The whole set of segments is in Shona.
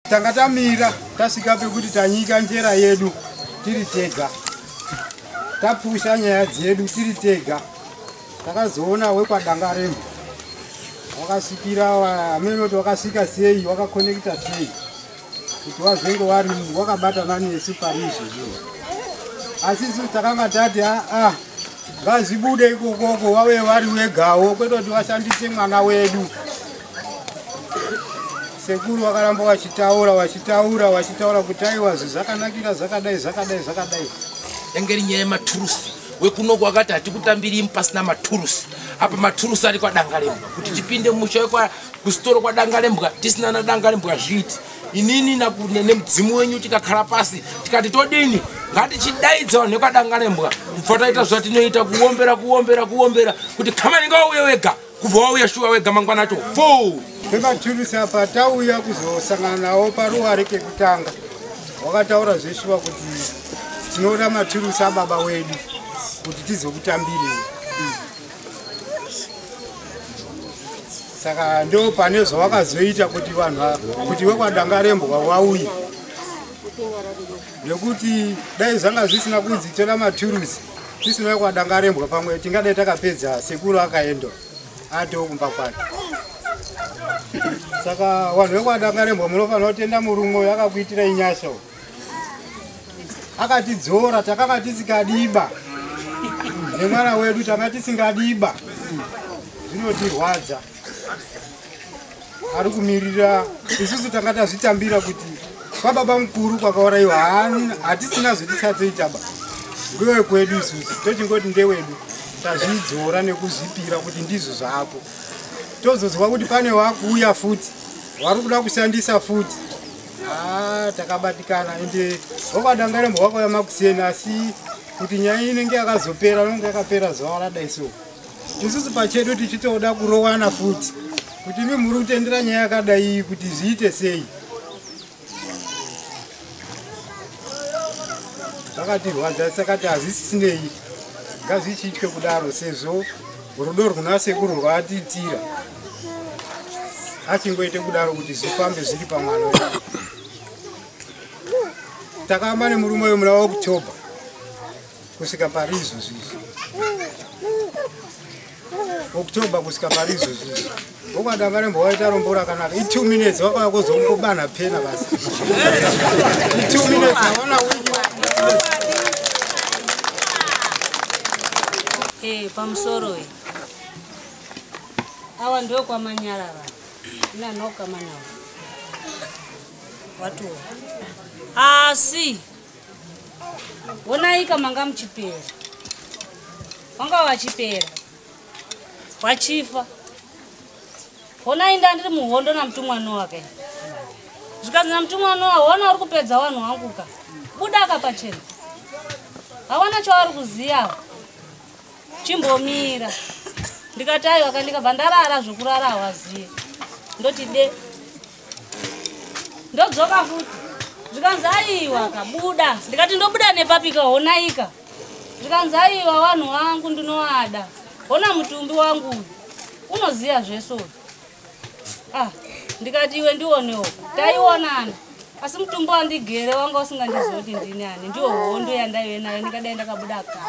tanga tamira tasvika pekuti tanyika njera yedu tiri tega tapusha nyaya dzedu tiri tega takazoona wekwadangaremo wakasvikira hamenoti wakasvika sei wakakonekita sei kuti wazenge wari wakabatana nesu pari izvozvo asi isu takanga tati aa ah, ah, ngazvibude ikokoko wave wari wegawo kwete kuti washandise mwana wedu sekuru vakaramba vachitaura vachitaura vachitaura kuti aiwa zvakanakira zvakadai zvakadai zvakadai yange ri nyaya yematurusi wekunoku wakati hatikutambiri imu pasina maturusi apa maturusi ari kwadangalembwa kuti tipinde musha wekusitoro kwadangalembwa tisina nadangalembwa zviiti inini nemudzimu wenyu tikakhala pasi tikati todini ngatichidaidza vanhu vekwadangalembwa kubva taita zvatinoita kuombera kuombera kuombera kuti kamaninga wauye wega kubva wauya shuwa wega mangwana acho fo ndikatulusi apa tauya kuzosangana nawo paruware kekutanga wakataura zveshuwa kuti tinoda maturusi ababa wedu kuti tizokutambirei saka ndo pane zvawakazoita kuti vanhu kuti wekwadangarembwa wauye nekuti dai zvanga zvisina kunzi tora maturusi tisina kwadangarembwa pamwe tingadai takapedza sekuru akaenda atoo kumba kwake saka vanhu vekwadangarembwa munofanira kutenda murume uyo akakuitira inyasha u akatidzora takanga tisikadiba nemwana wedu tanga tisingadiba zvinotirwadza ari kumirira isusu tanga tazvitambira kuti kwababa mukuru kwakauraiwa hatisina zvetichatoitaba ngewe kwedu isusu tochingoti ndewedu tazvidzora nekuzvipira kuti ndizvo zvako tozozwa kuti pane wakuuya futi wari kuda kushandisa futi ah, takabatikana ende wakadangarembo wakauya makuseni asi kuti nyaya inenge yakazopera nonge yakapera zuva radai so isusu pachedu tichitoda kurowana futi kuti imi muri kutendera nyaya yakadai kuti zviite sei zvakatirwadza sakati hazvisisinei ngazvichiitwe kudaro sezvo rudo rwuna sekuru rwaatiitira achingoite kudaro kuti zvifambe zviri pamwana wedu takamba nemurume uyo muna waokutobha kusvika pari izvozvi izvi october kusvika pari izvozvi izvi ukada varembo waita rombo rakanaka i two minutes wakauya kuzongobana pena basi i two minutes aona wiki ee eh, pamusoro e awa ndokwamanyarara inanokamanawa watuwa asi ah, Wonaika manga muchipera. Wanga wachipera. Wachifa. Honai ndandiri muhondo namutumwa Noa kai. Zvikanzi namutumwa Noa, hona uri kupedza wanhu wangu ka. Buda ka pachena. Hawana chauri kuziyawo. Chimbomira. Ndikati aiwa ka ndikabva ndarara zvokurara hawaziye. Ndoti de. ndodzoka futi zvikanzi aiwa kabuda ndikati ndobuda nepapika honaika zvikanzi aiwa vanhu wangu ndinoada hona mutumbi wangu uyu unoziva zvese uyu ah ndikati iwe ndionewo taionana asi mutumbi wandigere wanga usingandizivi kuti ndini ani ndiwo hondo yandaive nayo ndikadai ndakabuda ka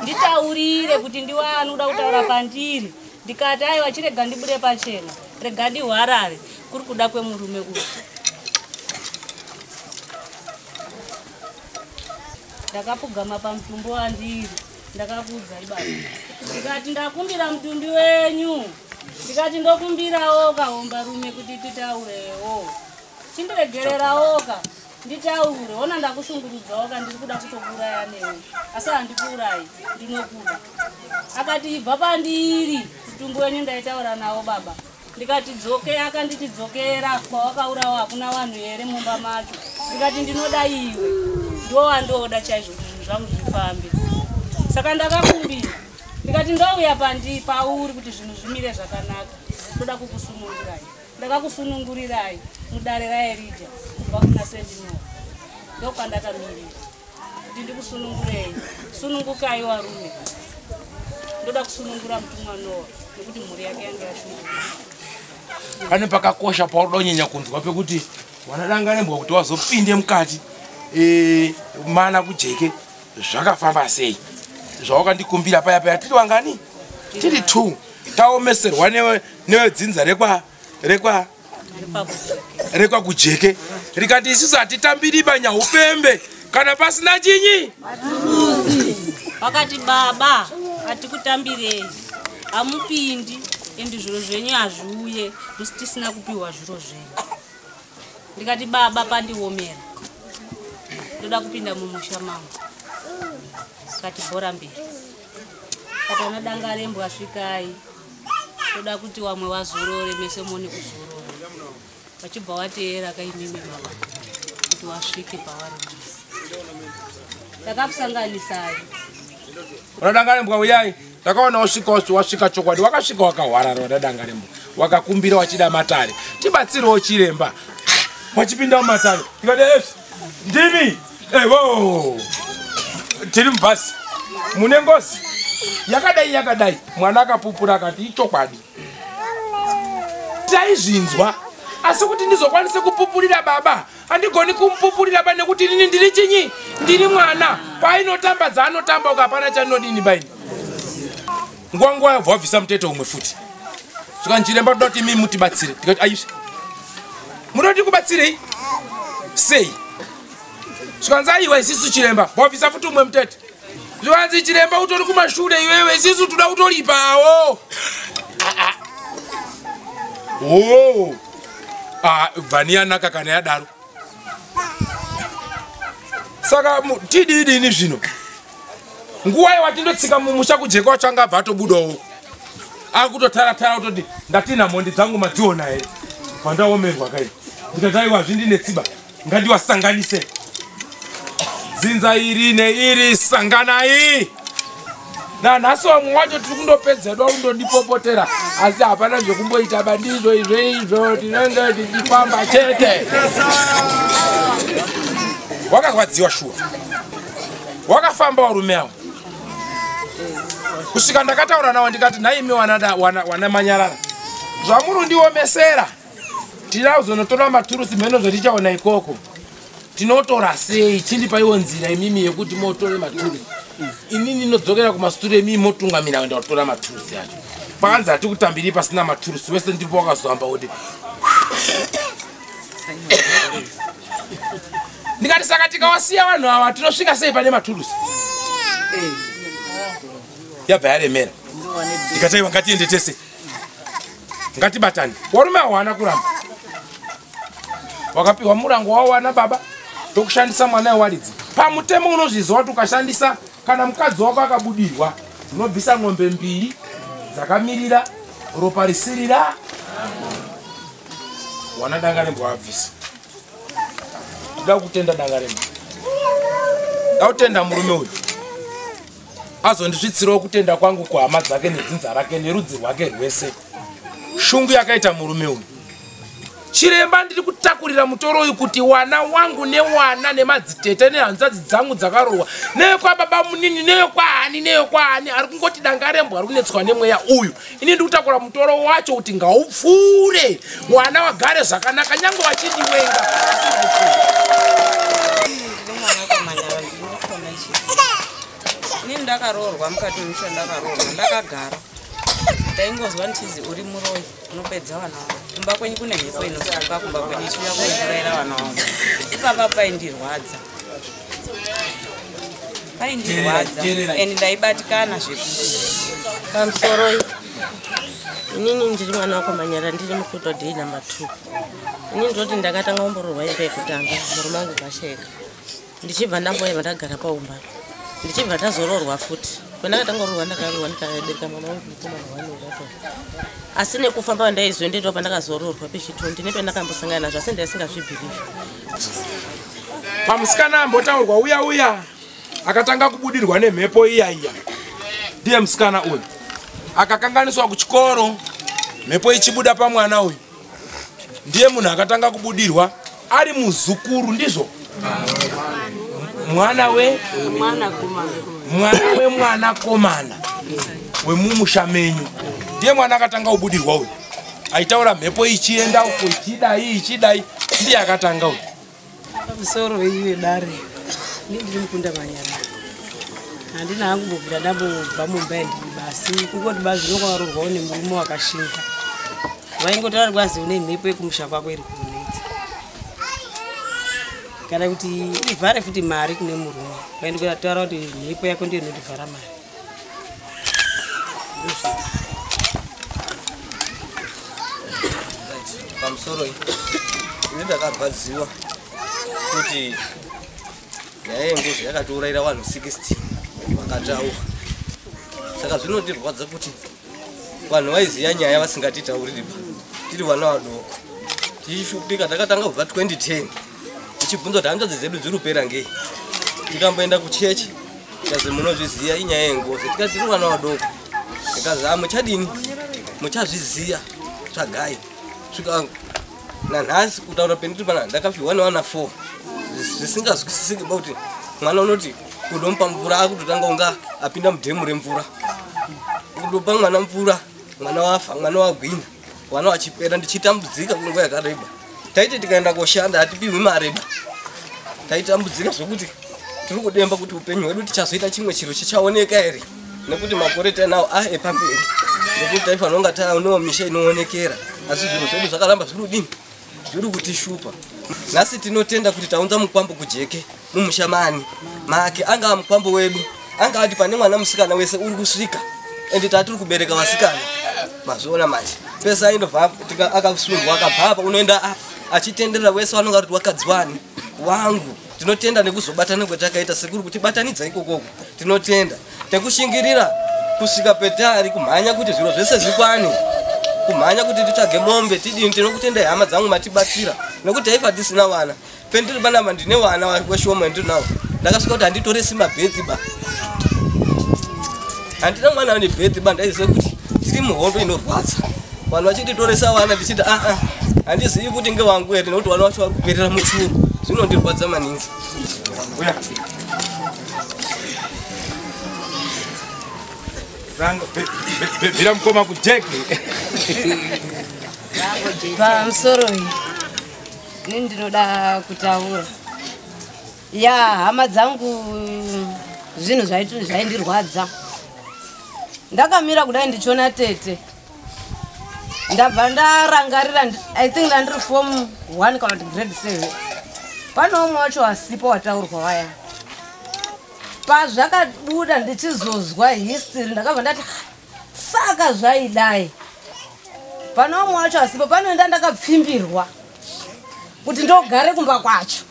nditaurire kuti ndiwani uda kutaura pandiri ndikati aiwa chirega ndibude pachena regadi hwarare kuri kuda kwemurume uyu ndakapfugama pamutumbi wandiri ndakakuudza ibaba ndikati ndakumbira mutumbi wenyu ndikati ndokumbirawo kahombarume kuti titaurewo chindiregererawoka nditaure hona ndakushungurudzawo ka ndiri kuda kutokuuraya newe asi handikuurayi ndinokuda akati ibva pandiri mutumbu wenyu ndaitaura nawo baba ndikati dzoke akanditi dzokera kwawakaurawo hakuna vanhu here mumba macho ndikati ndinoda iwe ndowandoda chaizvo zvinhu zvangu zvifambe saka ndakakumbira ndikati ndouya pandi pauri kuti zvinhu zvimire zvakanaka ndoda kukusumururai ndakakusunungurirai mudare raerija kubva kuna sendinoo ndokandakamirira kuti ndikusunungurei sunungukai warume ndoda kusunungura mutumwa noa nekuti mhuri yake yange yashunguka pane pakakosha paudonyanya kunzwa pekuti wanadanganembwa kuti wazopinde mukati e, mana kujeke zvakafamba sei zvawakandikumbira paya paya tiri wangani tiri two taomeserwa nevedzinza rekwa rekwa rekwa kujeke rikati isusu hatitambiri panyaupembe kana pasina chinyi vakati baba hatikutambirei hamupindi endi zviro zvenyu hazviuye musi tisina kupiwa zviro zvenyu ndikati baba pandiomera ndoda kupinda mumusha mangu kati bhora mberi kati ana dangarembwa svikai toda kuti wamwe wazorore mese mone kuzorora vachibva wateera kaimimi mama kuti wasvike pavari takakusanganisai vanadangarembwa uyai takaona wasvika wasvika chokwadi wakasvika wakahwarara vanadangarembwa wakakumbira wachida matare tibatsirewo chiremba wachipinda mumatare ndimi evo tiri mubhasi mune ngozi yakadai yakadai mwana akapupura akati ichokwadi taizvinzwa asi kuti ndizokwanise kupupurira baba handigoni kumupupurira ba nekuti inini ndiri chinyi ndiri mwana paainotamba dzaanotamba ukapana chandinodini baini nguva nguva yabva wabvisa mutete umwe futi saka ndiremba toda kuti imii mutibatsire tikati aisve munoda tikubatsirei sei zvikanzi aiwa isisu chiremba wabvisa futi umwe mutete zvikanzi chiremba utori kumashure iwewe isisu toda kutoripawo oo ah, vani yanaka kana yadaro saka tididini zvino nguva yewati ndotsika mumusha kujeka wacho anga abva atobudawo akutotaratara kutoti ndatina mhondi dzangu madziona here vandaomerwa kai ndikataiwa zvindine tsiba ngandiwasanganise dzinza iri neiri sanganai nanhasi vamwe wacho tiri kundopedza do kundondipopotera asi hapana zvekumboita bandizvo izvoizvo tinenge tichifamba chete wakarwadziwa shuwa wakafamba warume awo kusvika ndakataura nawo ndikati nhaimi wana manyarara zvamuri ndiomesera tida kuzonotora maturusi mheno zvatichaona ikoko tinotora sei chindipaiwo nzira imimi yekuti motore maturusi ini ndinodzokera kumasure mii motungamira kuenda kutora maturusi acho pakanzi hatikutambiri pasina maturusi wese ndipo wakazoamba kuti ndikati saka tikawasiya vanhu ava tinosvika sei pane maturusi yabva yaremera ndikataiwa ngatiende tese ngatibatane warume awana kuramba wakapiwa murango wawana baba tokushandisa mwana wewaridzi pamutemo unozviziva kuti ukashandisa kana mukadzi wako akabudirwa unobvisa ng'ombe mbiri dzakamirira ropa risirira wana danga rembo abvisa ndoda kutenda danga rembo ndautenda murume uyu azondisvitsirawo kutenda kwangu kuhama dzake nedzinza rake nerudzi rwake rwese shungu yakaita murume uyu chiremba ndiri kutakurira mutoro uyu kuti wana wangu newana nemadzitete nehanzvadzi dzangu dzakarohwa neyokwababa munini neyokwahani neyokwahani ari kungoti danga rembo ari kunetswa nemweya uyu ini ndikutakura mutoro wacho kuti ngaupfuure mwana wagare zvakanaka nyange vachindiwenga ini ndakaroorwa mukati memusha ndakaroorwa ndakagara ndaingozwa nditizi uri muroyi unopedza vana vangu kumba kwenyu kune mhepo inosuka kumba kwenyu ichiuya kunouraira vana vangu ipapa paindirwadza vaindirwadza and ndaibatikana zvekuti pamusoroi inini ndiri mwana wako manyara ndiri mukuto dei number two ini ndinoti ndakatanga umbororwa imba yekutanga murume angu kasheka ndichibva ndamboyeva ndagara paumba ndichibva ndazororwa futi kwendakatanga rorwa ndakarorwa ndikabereka mwana wangu mukomana wanorato asi nekufamba kwandaizoendeitwa pandakazororwa pechitondi nependakambosangana nazvo asi ndaisingazvibhirivi pamusikana ambotaurwa uya uya akatanga kubudirwa nemhepo iya iya ndiye musikana uyu akakanganiswa kuchikoro mhepo ichibuda pamwana uyu ndiye munhu akatanga kubudirwa ari muzukuru ndizvo mwana we mwana wemwana komana wemumusha menyu ndiye mwana akatanga kubudirwa uyu aitaura mhepo ichienda uko ichidai ichidai ndiye akatanga uyu pamusoro veiwe dare ini ndiri mukunda manyana handina hangu mbobvira ndambobva mumba yandiri basi kungoti bazi nokwavarurwawo nemurume wakashinga vaingoti vari kwazi une mhepo yekumusha kwako iri kunetsa kana kuti ivhare futi mari kune murume vaindikutaura kuti mhepo yako ndiyo inotivhara mari pamusoro iyi ini ndakarwadziwa kuti nyaya yengozi yakatiurayira vanhu 60 vakataura saka zvinotirwadza kuti vanhu vaiziva nyaya vasingatitauriri pa tiri vana vadoko tichishupika takatanga kubva 2010 tichibvunza kuti hanzvadzi dzedu dziri kupera ngei tikamboenda kuchechi kazi munozviziva inyaya yengozi tikati tiri vana vadoko ikazi a muchadini muchazviziva tsvagai svika nanhasi kutaura pendiri pana ndakafihwa newana four zvisingazwisisiki ba kuti mwana unoti kundomupa mvura akutotanga kunga apinda mudhemu remvura kundopa mwana mvura mwana wafa mwana wagwina mwana wachipera ndichitambudzika kunguva yakareba taiti tikaenda koshanda hatipihwi mareba taitambudzika zvekuti tiri kudemba kuti upenyu hwedu tichazoita chimwe chiro chichaoneka here nekuti makore tainawo a ah, epamberi nekuti taifanira kunga taonewo misha inoonekera asi zvinhu zvedu zvakaramba zviri kudini Zviri kutishupa. Nhasi tinotenda kuti taunza mukwambo kujeke mumusha mani make angava mukwambo wedu anga ati pane mwana musikana wese uri kusvika ende tatiri kubereka vasikana mazviona manje pese aindobva akasundwa akabva apa unoenda apa achitenderera wese vanonga kuti wakadziwani wangu tinotenda nekuzobatana kwatakaita sekuri kuti batanidza ikokoko tinotenda tekushingirira kusvika petari kumhanya kuti zviro zvese zvikwane kumhanya kuti titsvage mombe tidini tinokutendai hama dzangu matibatsira nokuti taifa tisina vana pendiri panapa ndine vana weshoma ndiri nawo ndakasvika kuti handitoresi mabhedhi ba handina mwana ane bhedhi ba ndaiziva kuti tiri muhondo inorwadza vanhu vachititoresa vana ndichiti aa ah, ah, handizivi kuti ngewangu here nekuti vana vacho vari kuperera muchuru zvinondirwadza maningi bvira mukoma kujeki pamusoro iyi ini ndinoda kutaura ya hama dzangu zvinhu zvaindirwadza ndakamira kudai ndichiona tete ndabva ndarangarira i think ndandiri form one kana kuti grade seven pane umwe wacho wasipo wataurwa waya pazvakabuda ndichizozwa history ndakabva ndati saka zvaidai pane umwe wacho asipo panoenda ndakapfimbirwa kuti ndogare kumba kwacho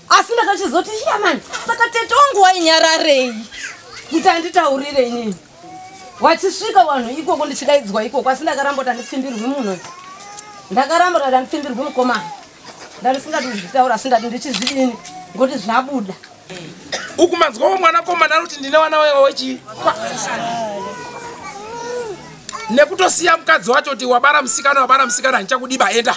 asi ndakachizoti yamani saka tete wangu wainyararei kuti anditaurire inini wachisvika wanhu ikoko ndichidaidzwa ikoko asi ndakaramba kuti andipfimbirwi munhu ndakaramba kuti andipfimbirwi mukomana ndandisingati ndizvitaura asi ndati ndichizvidini ngoti zvabuda ukumanzwawo mwana komana anoti ndine wana wewa wechii nekutosiya mukadzi wacho kuti wabara musikana wabara musikana handichakudiba enda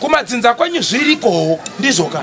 kumadzinza kwenyu zvirikowo ndizvoka